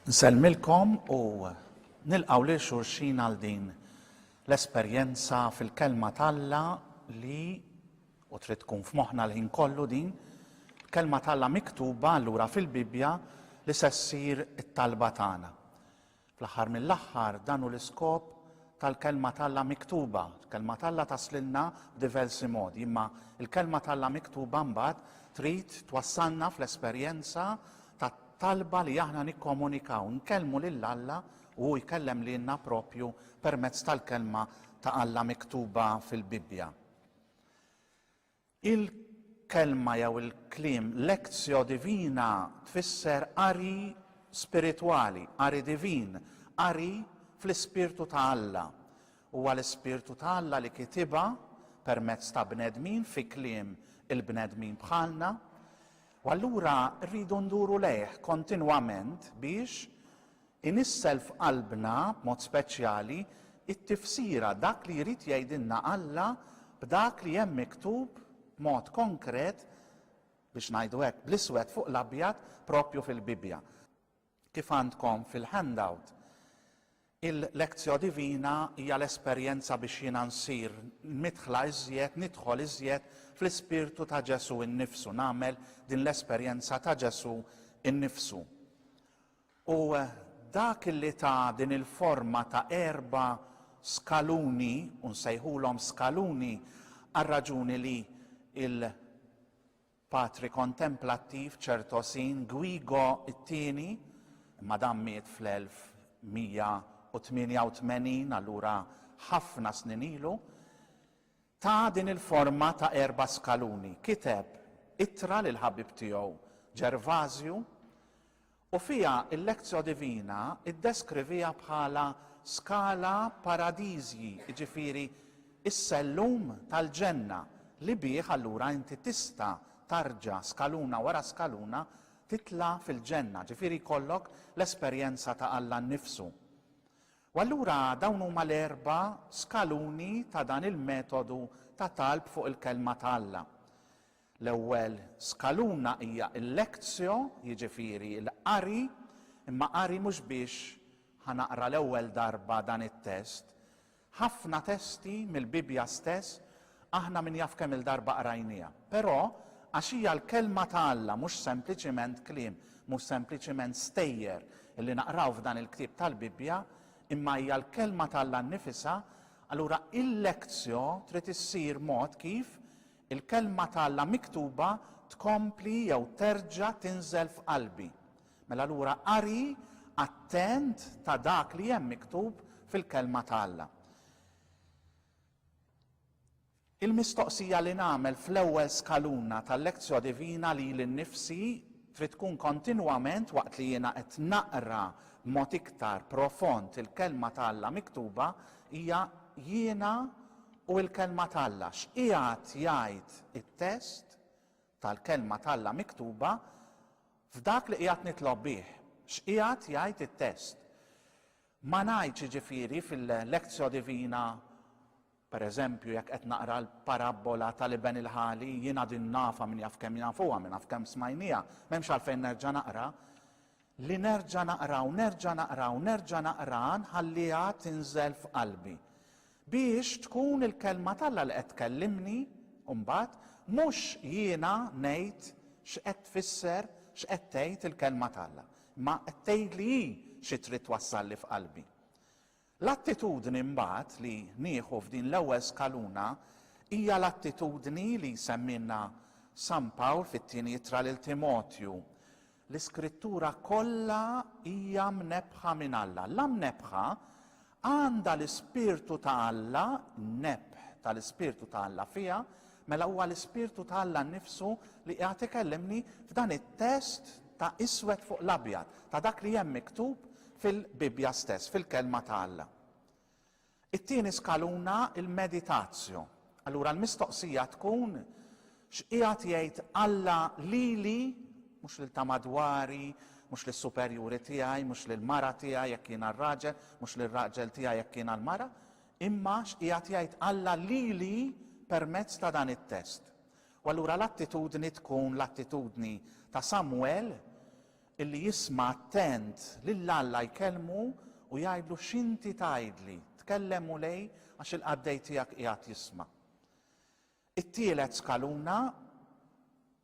Nsellmilkom u nilqaw lil xulxin għal din l-esperjenza fil-kelma t'Alla li U trid tkun f'moħħna l-ħin kollu din, l-Kelma t'Alla miktuba allura fil-Bibbja li se ssir it-talba tagħna. Fl-aħħar mill-aħħar dan hu l-iskop tal-Kelma t'Alla miktuba. Il-Kelma t'Alla taslilna b'diversi modi, imma l-Kelma t'Alla miktuba mbagħad trid twassalna fl-esperjenza tat-talba li aħna nikkomunikaw, nkellmu lil Alla u hu jkellem lilna proprju permezz tal-Kelma ta' Alla miktuba fil-Bibbja. Il-kelma jew il-kliem lectio divina tfisser qari spiritwali, qari divin, qari fl-ispirtu ta' Alla. Huwa l-ispirtu ta' Alla li kitibha permezz ta' bnedmin fi kliem il-bnedmin bħalna, u allura rridu nduru lejh kontinwament biex Inissel f'qalbna, b'mod speċjali, it-tifsira, dak li jrid jgħidilna Alla b'dak li hemm miktub b'mod konkret, biex ngħidu hekk, bl-iswed fuq l-abjad, proprju fil-Bibbja. Kif għandkom fil-handout, il-Lectio Divina hija l-esperjenza biex jiena nsir midħla iżjed, nidħol iżjed fl-ispirtu ta' Ġesù nnifsu, nagħmel din l-esperjenza ta' Ġesù nnifsu. U dak li ta din il-forma ta' erba' skaluni, u nsejħulhom skaluni għar-raġuni li l-Patri Kontemplattiv, Ċertosin, Guigo t-Tieni, imma dan miet fl-1188, allura ħafna snin ilu, Ta din il-forma ta' erba' skaluni, kiteb ittra lill-ħabib tiegħu Ġervażju u fiha l-Lectio Divina ddeskriviha bħala scala paradisii, jiġifieri s-sellum tal-ġenna li bih allura inti tista' tarġa' skaluna wara skaluna titla' fil-ġenna, jiġifieri jkollok l-esperjenza ta' Alla nnifsu. U allura dawn huma l-erba' skaluni ta' dan il-metodu ta' talb fuq il-Kelma ta' Alla. L-ewwel skaluna hija l-lectio, jiġifieri l-qari, imma qari mhux biex ħa naqra l-ewwel darba dan it-test. Ħafna testi mill-Bibbja stess Aħna min jaf kemm-il darba qrajniha. Però, għax hija l-Kelma ta' Alla, mhux sempliċiment kliem, mhux sempliċiment stejjer li naqraw f'dan il-ktieb tal-Bibbja, imma hija l-Kelma ta' Alla nnifisha, allura il-lectio trid issir mod kif il-Kelma ta' Alla miktuba tkompli jew terġa' tinżel f'qalbi. Mela allura qari attent ta' dak li hemm miktub fil-Kelma ta' Alla. Il-mistoqsija li nagħmel fl-ewwel skaluna tal-lectio divina lili nnifsi trid tkun kontinwament waqt li jiena qed naqra b'mod iktar profond il-Kelma ta' Alla miktuba hija, Jiena u l-Kelma ta' Alla, x'qiegħed jgħid it-test tal-Kelma ta' Alla miktuba f'dak li qiegħed nitlob bih? X'qiegħed jgħid it-test? Ma ngħidx jiġifieri fil-Lectio Divina, per eżempju, jekk qed naqra l-parabbola tal-iben il-ħali, jiena din nafha min jaf kemm jafuha, min jaf kemm smajnieha, m'hemmx għalfejn nerġa' naqra, li nerġa' naqra u nerġa' naqra u nerġa' naqraha nħalliha tinżel f'qalbi. Biex tkun il-Kelma t'Alla li qed tkellimni, u mbagħad, mhux jiena ngħid x'qed tfisser, x'qed tgħid il-Kelma t'Alla, imma qed tgħidli hi xi trid twassalli f'qalbi. L-attitudni mbagħad li nieħu f'din l-ewwel skaluna hija l-attitudni li jsemmilna San Pawl fit-Tieni Ittra lil Timotju, L-Iskrittura kollha hija mnebbħa minn Alla. La mnebbħa għandha l-Ispirtu ta' Alla, n-nebħ tal-Ispirtu ta' Alla fiha, mela huwa l-Ispirtu ta' Alla nnifsu li qiegħed ikellimni f'dan it-test ta' iswed fuq l-abjad, ta' dak li hemm miktub fil-Bibbja stess, fil-Kelma ta' Alla. It-tieni skaluna, il-meditatio. Allura l-mistoqsija tkun, X'qiegħed jgħid Alla lili, mhux lil ta' madwari, mhux lis-superjuri tiegħi, mhux lill-mara tiegħi jekk jiena r-raġel, mhux lir-raġel tiegħi jekk jiena l-mara, imma x'qiegħed jgħid Alla lili permezz ta' dan it-test? U allura l-attitudni tkun l-attitudni ta' Samwel Illi jisma' attent lil Alla jkellmu u jgħidlu x'inti tgħidli, tkellem Mulej għax il-qaddej tiegħek qiegħed jisma'. It-tielet skaluna,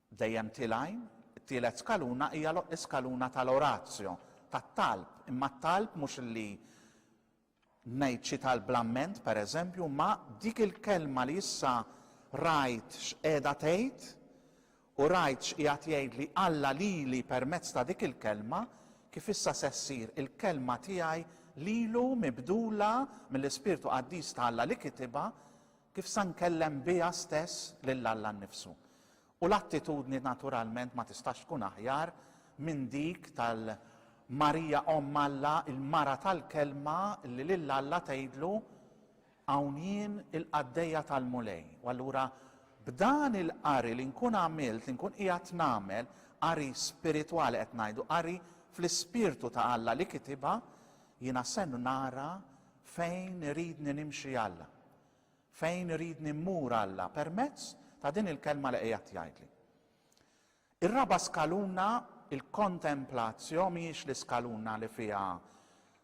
dejjem tilgħin, it-tielet skaluna hija l-iskaluna tal-oratio, tat-talb, imma t-talb mhux li ngħid xi talb bl-amment, pereżempju, imma dik il-kelma li issa rajt x'qiegħda tgħid u rajt x'qiegħed jgħidli Alla lili permezz ta' dik il-kelma, kif issa se ssir il-kelma tiegħi lilu mibdula mill-Ispirtu Qaddis ta' Alla li kitibha, kif se nkellem biha stess lil Alla nnifsu. U l-attitudni naturalment ma tistax tkun aħjar minn dik tal-Marija Omm Alla, il-mara tal-Kelma li lil Alla tgħidlu, Hawn jien il-qaddejja tal-Mulej. U allura b'dan il-qari li nkun għamilt, li nkun qiegħed nagħmel, qari spiritwali qed ngħidu, qari fl-ispirtu ta' Alla li kitibha, jiena se nara fejn iridni nimxi Alla. Fejn iridni mmur Alla permezz ta' din il-kelma li qiegħed jgħidli. Ir-raba' skaluna, il-kontemplatio, mhijiex l-iskaluna li fiha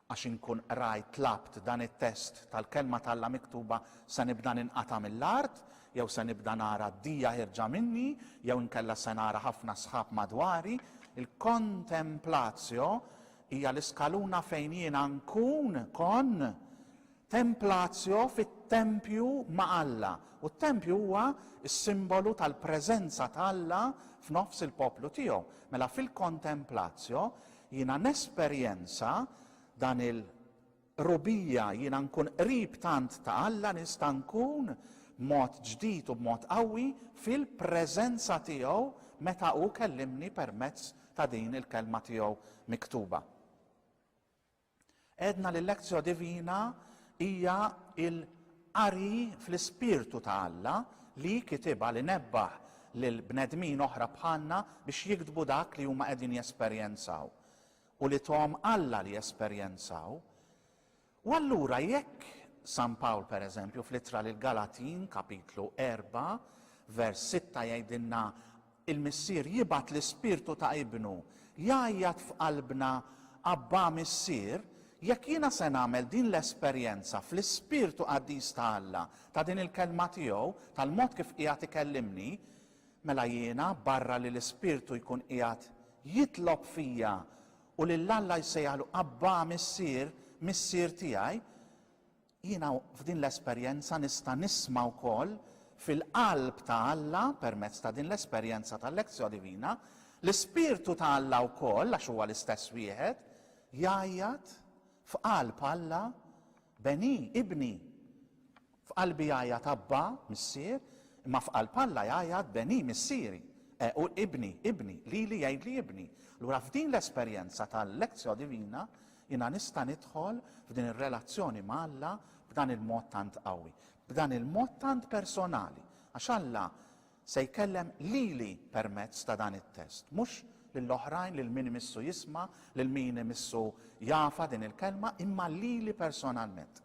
għax inkun qrajt, tlabt, dan it-test tal-kelma t'Alla miktuba se nibda ninqata' mill-art, jew se nibda nara d-dija ħierġa minni, jew inkella se nara ħafna sħab madwari. Il-kontemplatio hija l-iskaluna fejn jiena nkun, kont, Templatio fit-tempju ma' Alla, u t-tempju huwa s-simbolu tal-preżenza ta' Alla f'nofs il-poplu tiegħu. Mela fil-Contemplatio jiena nesperjenza dan il-qrubija, jiena nkun qrib tant ta' Alla, nista' nkun b'mod ġdid u b'mod qawwi fil-preżenza tiegħu meta hu kellimni permezz ta' din il-Kelma tiegħu miktuba. Għedna li l-Lectio Divina hija l-qari fl-ispirtu ta' Alla li kitibha li nebbaħ lil bnedmin oħra bħalna biex jiktbu dak li huma qegħdin jesperjenzaw u li thom Alla li jesperjenzaw. U allura jekk San Pawl pereżempju fl-ittra lill-Galatin kapitlu 4 vers 6 jgħidilna Il-Missier jibgħat l-Ispirtu ta' Ibnu jgħajjat f'qalbna, Abbà Missier, jekk jiena se nagħmel din l-esperjenza fl-ispirtu qaddis ta' Alla, ta' din il-Kelma tiegħu, tal-mod kif qiegħed ikellimni, mela jiena, barra li l-Ispirtu jkun qiegħed jitlob fija u lil Alla jsejjaħlu Abbà Missier, Missier tiegħi, Jiena f'din l-esperjenza nista' nisma' wkoll fil-qalb ta' Alla permezz ta' din l-esperjenza tal-Lectio Divina, l-Ispirtu ta' Alla wkoll, għax huwa l-istess wieħed, jgħajjat f'qalb Alla, Beni, Ibni. F'qalbi jgħajjat Abba, Missier, imma f'qalb Alla jgħajjat Beni, Missieri, e u Ibni, Ibni, lili jgħidli Ibni. Allura f'din l-esperjenza tal-Lectio Divina Jiena nista' nidħol f'din ir-relazzjoni ma' Alla b'dan il-mod tant qawwi, b'dan il-mod tant personali, għax Alla se jkellem lili permezz ta' dan it-test, mhux lil oħrajn, lil min imissu jisma', lil min imissu jafha din il-kelma, imma lili personalment.